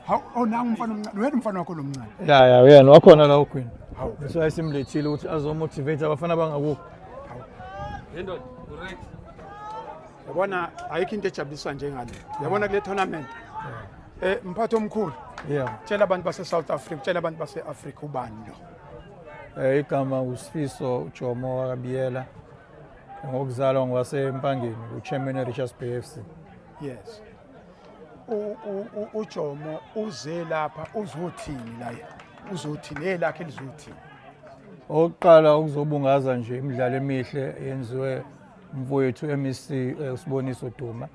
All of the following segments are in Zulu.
Hawu oh nangu umfana omncane. Uyena umfana wakho lomncane. Ya ya uyena wakhona la uGwini. Hawu. That's why simlethile ukuthi azomotivate abafana bangakukho. Yendo, correct. Yabona ayikho into ejabuliswa njengale. Yabona kule tournament. Eh mphathi omkhulu. Yeah. Tshela abantu base South Africa, tshela abantu base Africa ubani lo. Eh igama uSifiso uJomo wakabiyela. Ngokuzalwa ngwasempangeni uChairman Richards Bay FC. Yes. uJomo uze lapha uzothini la uzothini hey lakhe lizothini Oqala ukuzobungaza nje imidlalo emihle yenziwe mfowethu MEC usiboniso Duma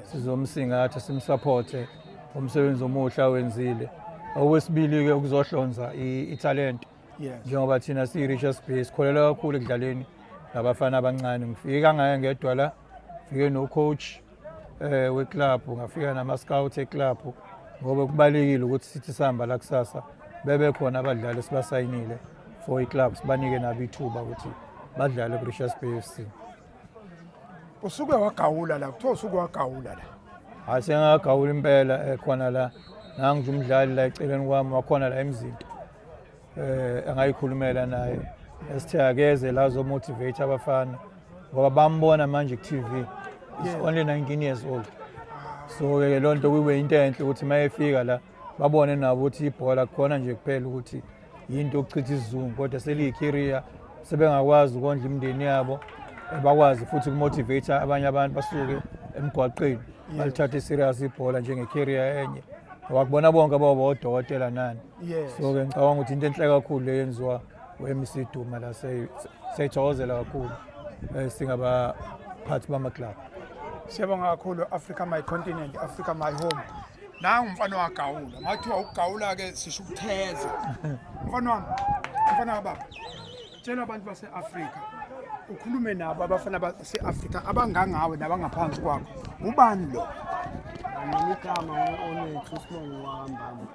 sizomsingatha simsupporte umsebenzi omuhle awenzile okwesibili ke ukuzohlonza italent njengoba thina siyi Richards Bay sikholela kakhulu ekudlaleni ngabafana abancane ngifika ngaye ngedwa la ngifike no coach eh weclub ngafika nama scouts eclub ngoba kubalekile ukuthi sithi sihamba la kusasa bebe khona abadlali sibasayinile for iclub sibanike nabo ithuba ukuthi badlale ku Richards Bay FC usuke wagawula la kuthiwa usuke wagawula la hayi sengagawula impela ekhona eh, la nangu umdlali la eceleni kwami wakhona la emzinto eh angayikhulumela naye esithe akeze la zomotivate abafana ngoba bambona manje ku-tv is only 19 years old so-ke loo nto kube into enhle ukuthi uma efika la babone nabo ukuthi ibhola kukhona nje kuphela ukuthi yinto okuchitha isizungu kodwa seliyikhiriya sebengakwazi ukondla imindeni yabo eh, bakwazi futhi ukumotivate abanye abantu basuke emgwaqeni balithathe serious ibhola njengekhiriya enye wakubona bonke baba odokotela nani yes so ke ngicabanga ukuthi into enhle kakhulu le yenziwa weMC Duma la seyithokozela kakhulu eh, singaba phathi bama club Siyabonga kakhulu Africa my continent Africa my home nangu mfana wagawula mathiwa ukugawula ke sisho ukutheza mfana wami mfana wababa tshela abantu base-afrika ukhulume nabo abafana base-afrika abangangawe nabangaphansi kwakho ubani lo nginikama onethu usibongo wakambamba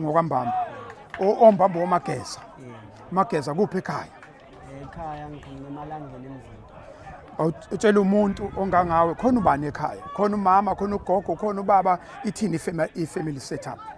ngokwambamba ombamba womageza mageza kuphi ekhaya ekhaya ngikhona emalangeni emzini utshela umuntu ongangawe khona ubani ekhaya khona umama khona ugogo khona ubaba ithini ifamily setup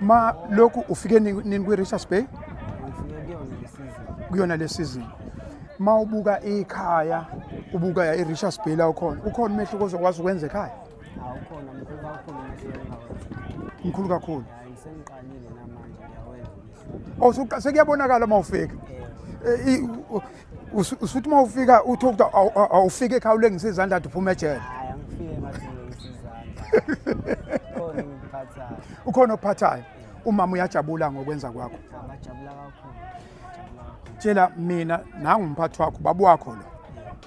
ma lokhu ufike nini kwi-richards bay kuyona le season ma ubuka ikhaya ubuka ya i-richards bay la ukhona ukhona umehluko ozokwazi ukwenza ekhaya mkhulu kakhulu oh, sekuyabonakala uma ufika eh, usuthi uma ufika uthi ukuthi awufike ekhaya ulengisa izandla athi uphuma ejele ukhona okuphathayo umama uyajabula ngokwenza kwakho tshela mina nangumphathi wakho babu wakho lo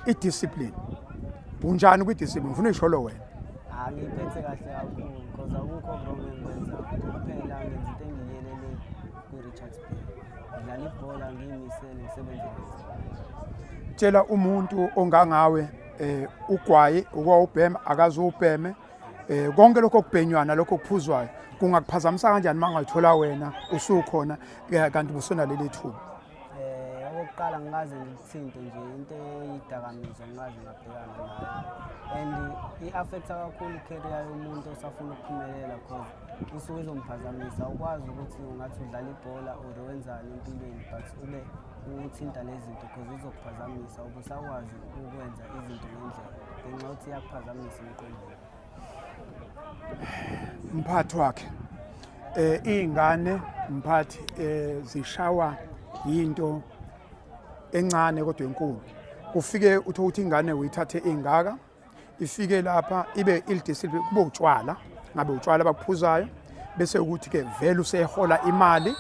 idiscipline unjani kwidiscipline ngifuna uyisholo wena angiphethe kahle kakhulu because akukho wrong engikwenzayo kuphela ngenza into engiyelele kwi-richards bay ngidlala ibhola ngiyimisele ngisebenze tshela umuntu ongangawe eh ugwayi ukwawubhema akazuwubheme eh konke lokho kubhenywana lokho kuphuzwayo kungakuphazamisa kanjani mangayithola wena usukhona eh, kanti busona leli thuba Eh okokuqala ngikaze ngikuthinte nje into eyidakamizwa ngikaze ngabhekana nayo. And i-affecta kakhulu i-career yomuntu osafuna ukuphumelela cause usuke izomphazamisa ukwazi ukuthi ungathi udlala ibhola or wenzani empilweni but ube uthinta lezi zinto cause izokuphazamisa ubusakwazi ukwenza izinto ngendlela ngenxa yokuthi iyakuphazamisa emqondweni. mphathi wakhe eh izingane mphathi eh zishawa into encane kodwa enkulu ufike uthe ukuthi ingane uyithathe ingaka ifike lapha ibe ilidisipline kube utshwala ngabe utshwala abaphuzayo bese ukuthi ke vele usehola imali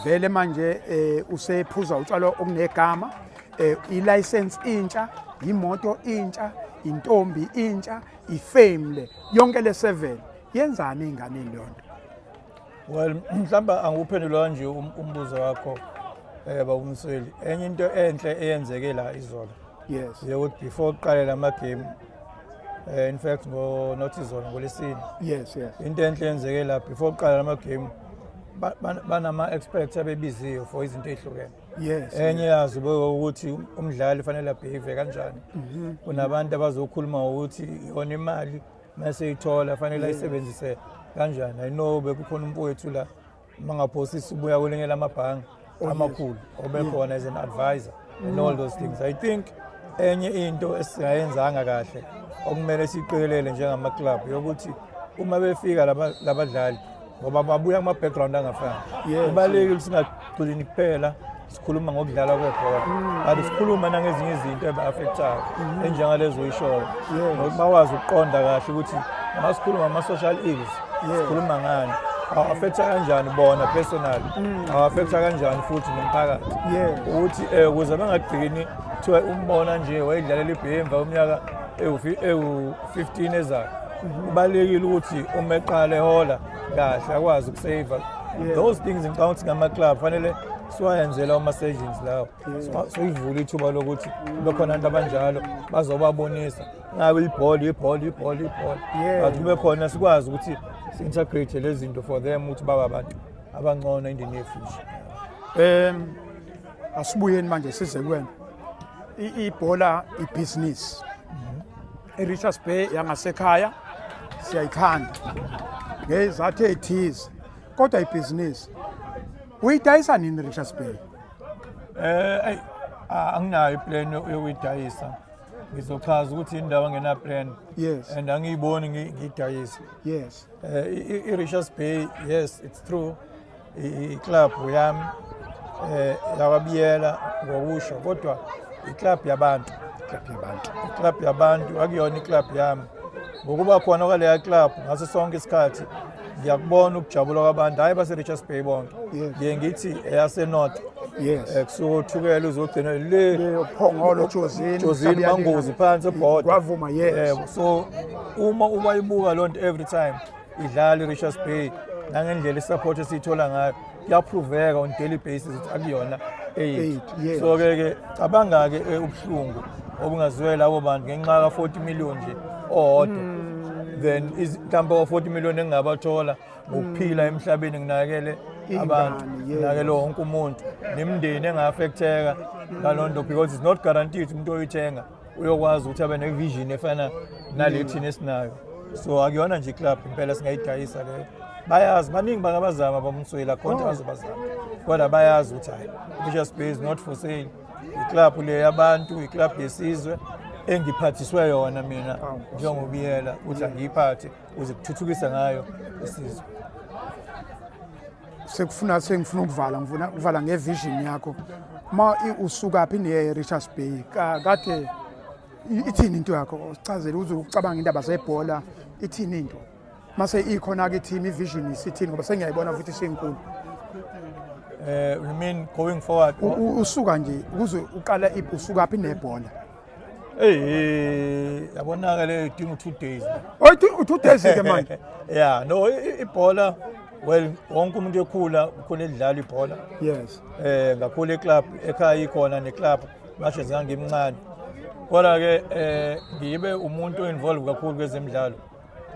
vele manje eh usephuza utshwala okunegama eh i license intsha imoto intsha intombi intsha ifame le yonke le 7 yenzani enganeni lonto well mhlamba anguphendula kanje um-, umbuzo wakho eh bawumsweli enye into enhle eyenzeke la izolo yes yekuthi before uqale lama game eh in fact ngo not izolo ngolesini yes yes into enhle eyenzeke la before uqala lama game banama experts abebiziwe for izinto ezihlukene Yes. Enye yazo beka ukuthi umdlali ufanele abhave kanjani. Mhm. Kunabantu abazokhuluma ukuthi yona imali mase ithola fanele ayisebenzise kanjani. I know bekukhona umfowethu la mangaphosisa ubuya kwelinye lamabhange oh, amakhulu obekhona as an advisor and all those things. I think enye into esingayenzanga kahle okumele siqikelele njengama club yokuthi uma befika laba labadlali ngoba babuya kuma-background angafani kubalulekile singagcini kuphela sikhuluma ngokudlala kwebhola mm. but sikhuluma nangezinye izinto eba-affectayo mm-hmm. enjengalezo oyishoyo nokuthi bakwazi ukuqonda kahle ukuthi masikhuluma ama-social ills sikhuluma ngani awafektha kanjani bona personally mm. awafektha kanjani futhi nomphakathi ukuthi um ukuze bangagcini kuthiwa umbona nje wayedlalela ibhemva umnyaka ewu-15 ezayo Kubalulekile ukuthi uma eqala ehola kahle akwazi ukusaver those things ngicabanga ukuthi ngama-club fanele siwayenzela ama-surgeons lawo siyivule ithuba lokuthi kube khona abantu abanjalo bazobabonisa ngabe ibhola ibhola ibhola ibhola but kube khona sikwazi ukuthi si-integrate lezi zinto for them ukuthi baba abantu abangcono in the near future um asibuyeni manje size kwena ibhola ibhizinisi I-Richards Bay yangasekhaya siyayithanda ngezathu ey'thize kodwa ibhizinisi uyidayisa nini richards bay Eh, eyi, a- anginayo iplan yokuyidayisa ngizochaza ukuthi indawo angenaplan Yes. and angiyiboni ngi- ngiyidayisa yes um i-richards bay yes it's true iklabhu yami um eh, yakwabiyela ngokusho kodwa iklabhu yabantu iklabhu yabantu akuyona iklabhu yami ngokuba khona kwaleya klabhu ngaso sonke isikhathi ngiyakubona ukujabula kwabantu hhayi base-richards bay bonke ngiye ngithi eyasenorth yes eh, kusuke uthukela uzogcina le uphongolo jozini jozini mangozi phansi ebhoda kwavuma yes eh, so uma ubayibuka lonto every time idlala i-richards bay nangendlela isupport esiyithola ngayo kuyaphroveka on daily basis ukuthi akuyona eight so ke ke cabanga-ke eh, ubuhlungu obungazwela abo bantu ngenxa ka-40 million nje owodwa hmm. then mhlawumbe wa-40 million engingabathola ngokuphila hmm. emhlabeni nginakele abantu nginakele wonke umuntu nemndeni enga-affecteka ngaloo nto because it's not guaranteed umuntu oyithenga uyokwazi ukuthi abe nevision efana nale thina esinayo so akuyona nje iclub impela singayidayisa leyo bayazi baningi bangabazama bamswela khonje oh. bazobazama kodwa bayazi ukuthi hayi Bishop's Bay is not for sale iclub le yabantu iclub yesizwe engiphathiswe yona mina njengobiyela ukuthi angiyiphathe ukuze kuthuthukise ngayo isizwe sekufuna sengifuna ukuvala ngifuna ukuvala ngevision yakho uma usuka phi niye Richards Bay kade ithini into yakho sichazele uze ucabanga indaba zebhola ithini into mase ikhona ke team ivision isithini ngoba sengiyayibona futhi senkulu eh you mean going forward usuka nje ukuze uqala usuka phi nebhola Hey, yabonaka le idinga two days. Oh, idinga two days ke manje. Yeah, no ibhola well wonke umuntu ekhula ukhona edlala ibhola. Yes. Eh ngakhula eclub ekhaya ikhona neclub mashe zangimncane. Kodwa ke eh ngibe umuntu involved kakhulu kwezemidlalo.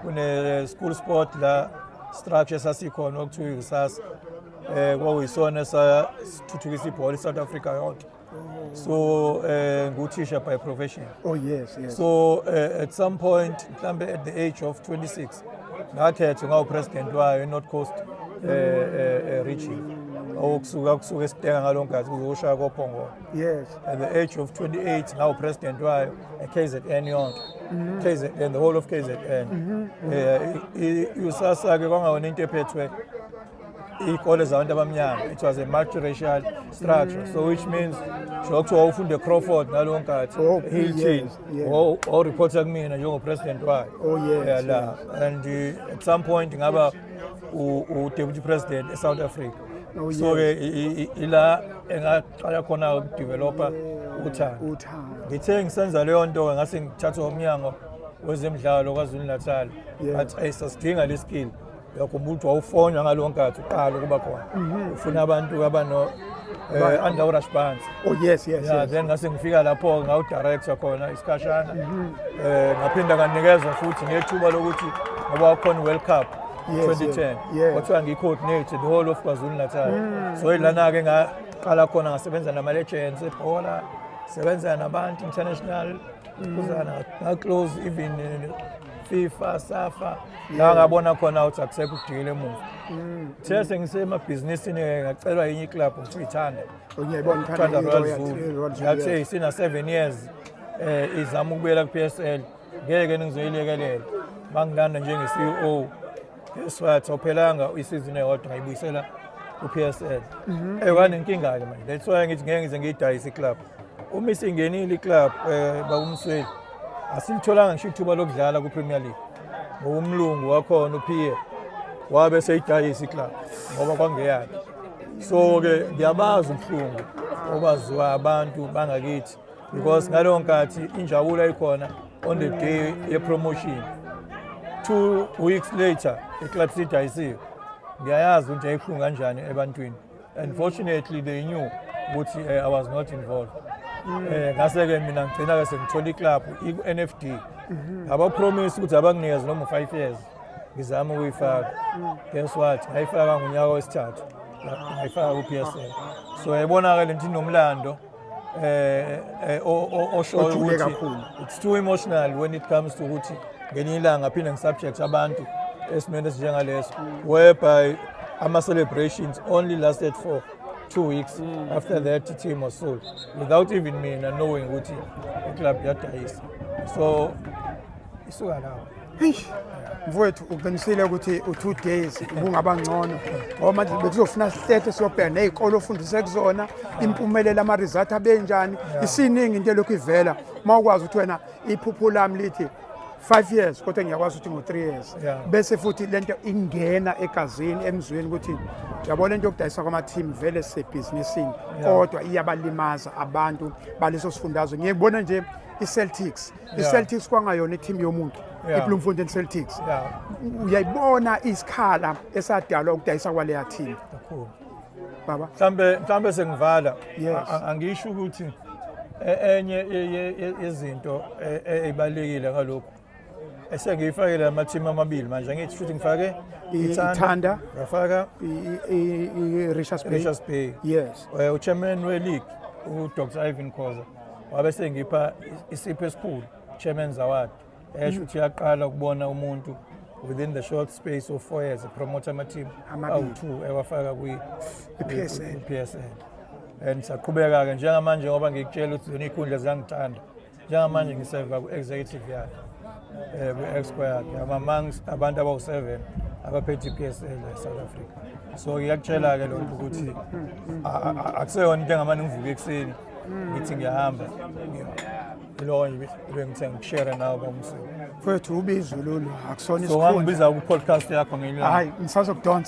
Kune school sport la structure sasikhona okuthiwa ikusasa. Eh kwakuyisona sa sithuthukisa ibhola iSouth Africa yonke. Oh. So uh, nguthisha by profession. Oh yes, yes. So uh, at some point mhlambe at the age of 26 ngakhethwa ngawupresident wayo eNorth Coast uh, uh, uh, region okusuka kusuka esitenga ngalongazi kuzoshaya kophongolo yes at the age of 28 ngawu president wayo eKZN yonke mm-hmm. KZN the whole of KZN mm-hmm. eh usasa ke kwangawona into ephethwe iy'kole zabantu abamnyama it was a multiracial structure mm. so which means sho kuthiwa wawufunde crawford nalowo nkathi oh, hilton wawuripotha kumina njengopresident wayo oh, yala and uh, at some point ngaba udeputy president esouth africa oh, so-ke ila engaqala khona ukudevelopa uthando ngithe ngisenza leyo nto-ke ngase ngithathwa umnyango wezemidlalo kwazulu natal but ayisasidinga le skill uyakhumbula ukuthi wawufonywa ngalo nkathi uqala ukuba khona mhm. ufuna abantu abano eh, under rush bands oh yes yes yeah, yes. then ngase ngifika lapho ngawu director khona isikhashana mhm. eh ngaphinda kanikezwa futhi ngethuba lokuthi ngoba wakhona World Cup 2010 kwathiwa ngiyi-coordinate the whole of kwazulu natal mm. so ilana-ke ngaqala khona ngasebenza nama-legends ebhola sebenza nabantu international mm. kuzana ngaclose even eh, fifa safa la ngabona khona ukuthi akusekho ukudikela emuva mm. the sengisemabhizinisini eh, ngacelwa yinye iclub ukuthi uyithanda ngiyayibona Royal Zulu yathi sina 7 years eh izama ukubuyela ku-PSL ngeke ningizoyilekelela bangilanda njenge-CEO Guess what? Ophelanga isizini eyodwa ngayibuyisela uPSL. Mhm. Eh wanenkinga ke manje. That's why ngithi ngeke ngize ngiyidayise iclub. Uma isingenile iclub eh bakumsweli. Asilitholanga ngisho ithuba lokudlala kuPremier League. Ngokumlungu wakhona uPie. Wabe seyidayisa iclub ngoba kwangeyakhe. So ke ngiyabazi ubuhlungu obaziwa abantu bangakithi. because ngaleyo nkathi injabulo ikhona on the day yepromotion two weeks later iclub sidayisiwe ngiyayazi ukuthi yayibuhlungu kanjani ebantwini and fortunately they knew ukuthi uh, i was not involved um ngase-ke mina ngigcina-ke sengithola iclub i-n f d mhm. abapromisi ukuthi abanginikeze noma u-five years ngizama ukuyifaka mm. guess what ngayifaka ngonyaka wesithathu ngayifaka ku-p s l so yayibona-ke le nto inomlando eh, eh oshoyo ukuthi kakhulu it's too emotional when it comes to ukuthi ngenye ilanga phinde ngisubject abantu esimene esinjengaleso whereby ama celebrations only lasted for two weeks mm. after that team was sold without even mina knowing ukuthi iclub yadayisa so isuka lapho eish mfowethu uqinisile ukuthi u-two days ubungaba ngcono ngoba manje bekuzofuna sihlehlo siyobheka ney'kole ofundise kuzona impumelelo ama-result abenjani isiningi into elokhu ivela uma ukwazi ukuthi wena iphupho lami lithi five years kodwa ngiyakwazi ukuthi ngo-three years Yeah. bese futhi le nto ingena egazini emzweni ukuthi yabona le nto yokudayisa kwama-team vele sebhizinisini kodwa iyabalimaza abantu baleso sifundazwe ngiyekubona nje i-celtics iceltics kwangayona ithimu yomuntu ibloemfontein celtics uyayibona isikhala esadalwa ukudayisa kwaleya thimu baba mhlambe mhlambe sengivala angisho ukuthi e, enye yezinto ezibalekile e, e, ngalokho esengiyifake la mathimu amabili manje ngithi futhi ngifake ithanda ngafaka i-richards bay yes eh, uchairman we-league udr ivan khoza wabe sengipha isipho esikhulu chairman's award esho ukuthi yaqala ukubona umuntu within the short space of four years epromota ama-team awu-two ewafaka kwi-psl and saqhubeka-ke njengamanje ngoba ngikutshela ukuthi zona iy'khundla ziyangithanda njengamanje ngiseva ku-executive yakhe um kwi-exco yakhe amamangst abantu abawu-seven abaphethe i-psl e-south africa so ngiyakutshela-ke lokho ukuthi akuseyona into engamane ngivuke ekuseni ngithi ngiyahamba lowo nje bengithe ngikushare nawe kwamsini mfowethu ubizulu akusona so isikhundla ngangibiza ku-podcast yakho ngenye hayi ngisazokudonsa